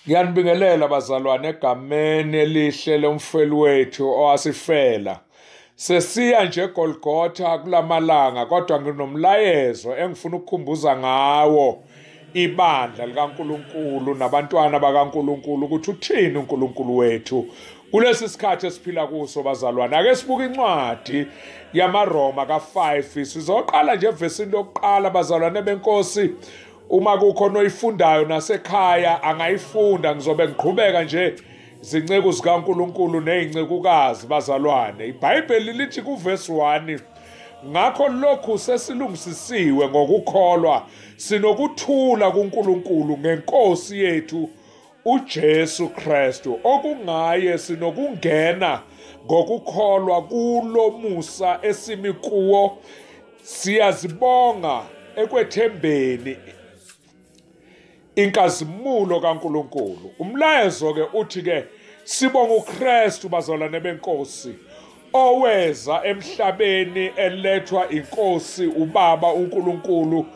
Ngiyanibingelela bazalwane egameni elihle lomfeli wethu owasifela. Sesiya nje eGolgotha kulamalanga kodwa nginomlayezo engifuna ukukhumbuza ngawo ibandla likaNkuluNkulu nabantwana bakaNkuluNkulu ukuthi uthini uNkuluNkulu wethu kulesi sikhathi esiphila kuso bazalwane ake sibuke incwadi yamaRoma ka5 sizoqala nje evesini lokuqala bazalwane benkosi uma kukhona oyifundayo nasekhaya angayifunda ngizobe ngiqhubeka nje zinceku zikaNkuluNkulu nezincekukazi bazalwane iBhayibheli lithi kuverse 1 ngakho lokhu sesilungisisiwe ngokukholwa sinokuthula kuNkulunkulu ngenkosi yethu uJesu Kristu okungaye sinokungena ngokukholwa kulomusa esimi kuwo Siyazibonga ekwethembeni inkazimulo kaNkuluNkulu. Umlayezo ke uthi ke sibonga uKristu bazalwane benkosi oweza emhlabeni elethwa inkosi ubaba uNkulunkulu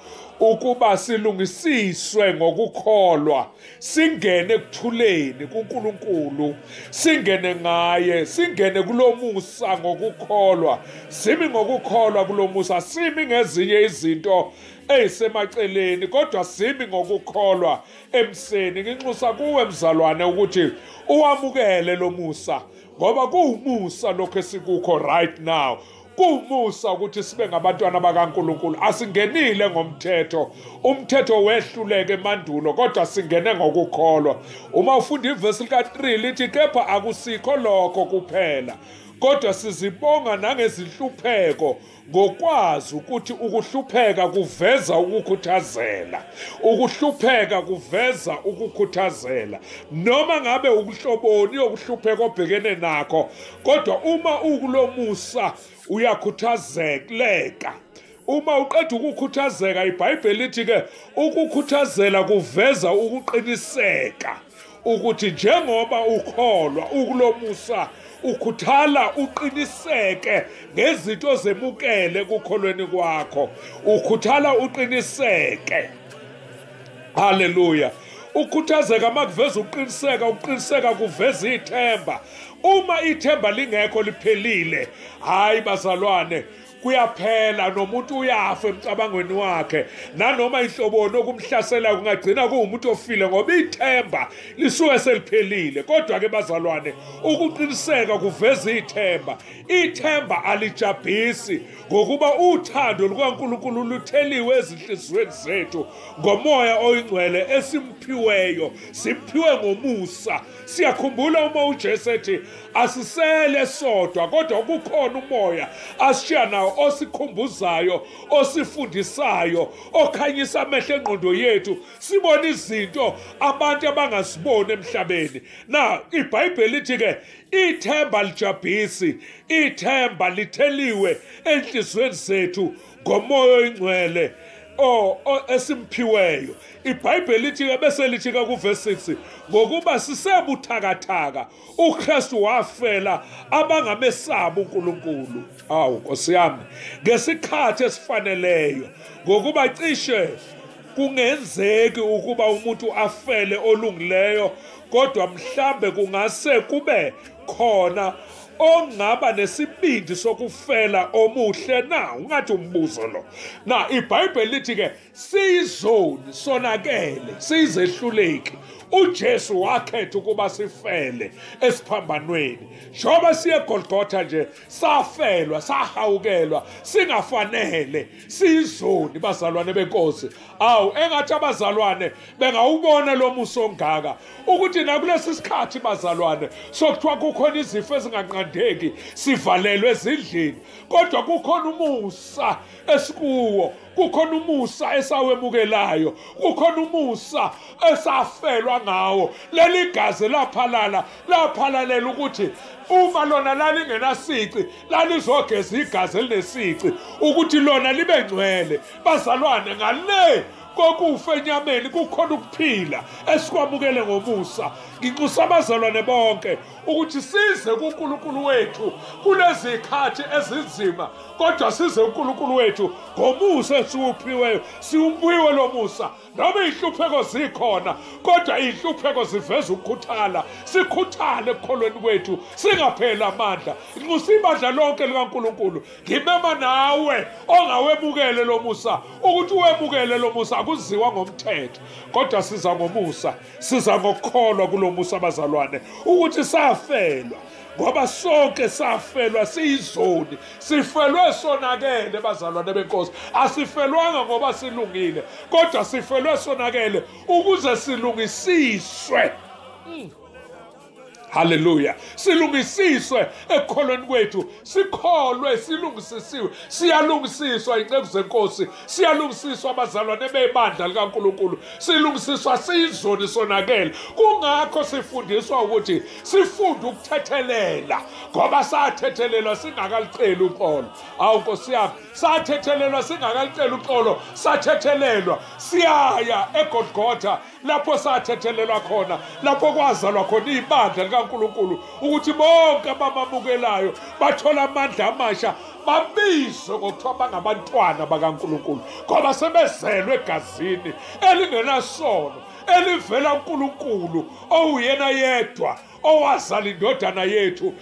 ukuba silungisiswe ngokukholwa singene ekuthuleni kuNkulunkulu singene ngaye singene kulomusa ngokukholwa simi ngokukholwa kulomusa simi ngezinye izinto eyisemaceleni kodwa simi ngokukholwa emseni nginxusa kuwe mzalwane ukuthi uwamukele lomusa ngoba kuwumusa lokho esikukho right now Kuwumusa ukuthi sibe ngabantwana bakaNkulunkulu. Asingenile ngomthetho. Umthetho wehluleke emandulo kodwa singene ngokukholwa. Uma ufunda ivesi lika-3 lithi kepha akusikho lokho kuphela kodwa sizibonga nangezinhlupheko ngokwazi ukuthi ukuhlupheka kuveza ukukhuthazela ukuhlupheka kuveza ukukhuthazela noma ngabe ukuhloboni yokuhlupheka obhekene nakho kodwa uma ukulomusa uyakhuthazeka uma uqeda ukukhuthazeka ibhayibheli lithi ke ukukhuthazela kuveza ukuqiniseka ukuthi njengoba ukholwa ukulomusa ukhuthala uqiniseke ngezinto zemukele kukholweni kwakho ukhuthala uqiniseke haleluya ukhuthazeka uma kuveza ukuqiniseka ukuqiniseka kuveza ithemba uma ithemba lingekho liphelile hhayi bazalwane kuyaphela nomuntu uyafa emcabangweni wakhe nanoma inhloboni okumhlaselayo kungagcina kuwumuntu ofile ngoba ithemba lisuke seliphelile kodwa-ke bazalwane ukuqiniseka kuveza ithemba ithemba alijabhisi ngokuba uthando lukaNkulunkulu lutheliwe ezinhliziyweni zethu ngomoya oyingcwele esimphiweyo simphiwe ngomusa siyakhumbula uma uJesu ethi asisele sodwa kodwa kukhona umoya asishiya nawo osikhumbuzayo osifundisayo okhanyisa amehlo engqondo yethu sibone izinto abantu abangaziboni emhlabeni na ibhayibheli lithi ke Ithemba lijabhisi, ithemba litheliwe enhliziyweni zethu ngomoya oyingcwele o esimphiweyo ibhayibheli lithi ke bese lithi ka kuverse 6 ngokuba sisebuthakathaka uKristu wafela abangamesaba uNkulunkulu awu Nkosi yami ngesikhathi esifaneleyo ngokuba cishe Kungenzeki ukuba umuntu afele olungileyo kodwa mhlambe kungase kube khona ongaba nesibindi sokufela omuhle na ungathi umbuzo lo na ibhayibheli lithi ke siyizoni sonakele siyizehluleki uJesu wakhetha ukuba sifele esiphambanweni njengoba siye eGolgotha nje safelwa sahawukelwa singafanele sizoni bazalwane benkosi awu engathi abazalwane bengawubona lo muso ongaka ukuthi nakulesi sikhathi bazalwane sokuthiwa kukhona izifo ezinganqandeki sivalelwe ezindlini kodwa kukhona umusa esikuwo kukhona umusa esawemukelayo kukhona umusa esafelwa ngawo leli gazi laphalala laphalalela ukuthi uma lona lalingenasici lalizogeza igazi elinesici ukuthi lona libe ngcwele bazalwane ngale kokufa enyameni kukhona ukuphila esikwamukele ngomusa nginxusa abazalwane bonke ukuthi size kuNkulunkulu wethu kulezikhathi ezinzima kodwa size uNkulunkulu wethu ngomusa esiwuphiweyo siwuphiwe lomusa Noma iy'hlupheko zikhona kodwa iy'hlupheko ziveza ukukhuthala sikhuthale ekukholweni kwethu singapheli amandla nxusa ibandla lonke likankulunkulu ngimema nawe ongawemukele lo musa ukuthi uwemukele lo musa akuziwa ngomthetho kodwa siza ngomusa siza ngokukholwa kulo musa bazalwane ukuthi safelwa ngoba sonke safelwa siyizoni sifelwe sonakele bazalwane benkosi asifelwanga ngoba silungile kodwa sifelwe sonakele ukuze silungisiswe mm. haleluya silungisiswe ekukholweni kwethu sikholwe silungisisiwe siyalungisiswa inceku zenkosi siyalungisiswa abazalwane bebandla likaNkulunkulu silungisiswa siyizoni sonakele kungakho sifundiswa ukuthi sifunde ukuthethelela ngoba sathethelelwa singakaliceli uxolo awu nkosi yami sathethelelwa singakaliceli uxolo sathethelelwa siyaya egodgotha lapho sathethelelwa khona lapho kwazalwa khona ibandla likaNkuluNkulu ukuthi bonke abamamukelayo bathola amandla amasha babizwe ngokuthiwa bangabantwana bakaNkuluNkulu ngoba sebezelwe egazini elingenasono elivela uNkuluNkulu owuyena yedwa owazala indodana yethu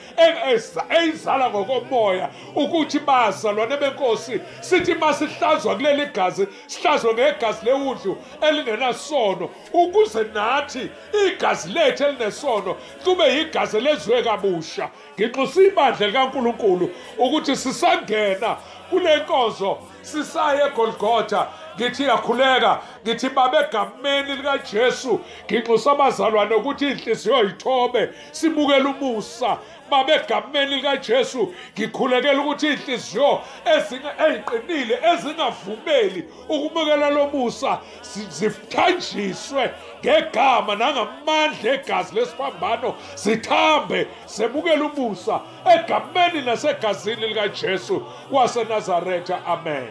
eyizala ngokomoya ukuthi bazalwane benkosi sithi masihlazwa kuleli gazi sihlazwe ngegazi lewudlu elingenasono ukuze nathi igazi lethu elinesono kube yigazi lezwe kabusha nginxusa ibandla likaNkuluNkulu ukuthi sisangena kule nkonzo sisaye egolgotha ngithi yakhuleka ngithi babe egameni likajesu nginxusa abazalwane ukuthi inhliziyo yithobe sibukele umusa babe egameni likajesu ngikhulekela ukuthi inhliziyo eziqinile ezingavumeli ukumukela lo musa zithanjiswe ngegama nangamandla egazi lesiphambano zithambe zemukele umusa egameni nasegazini likaJesu waseNazaretha amen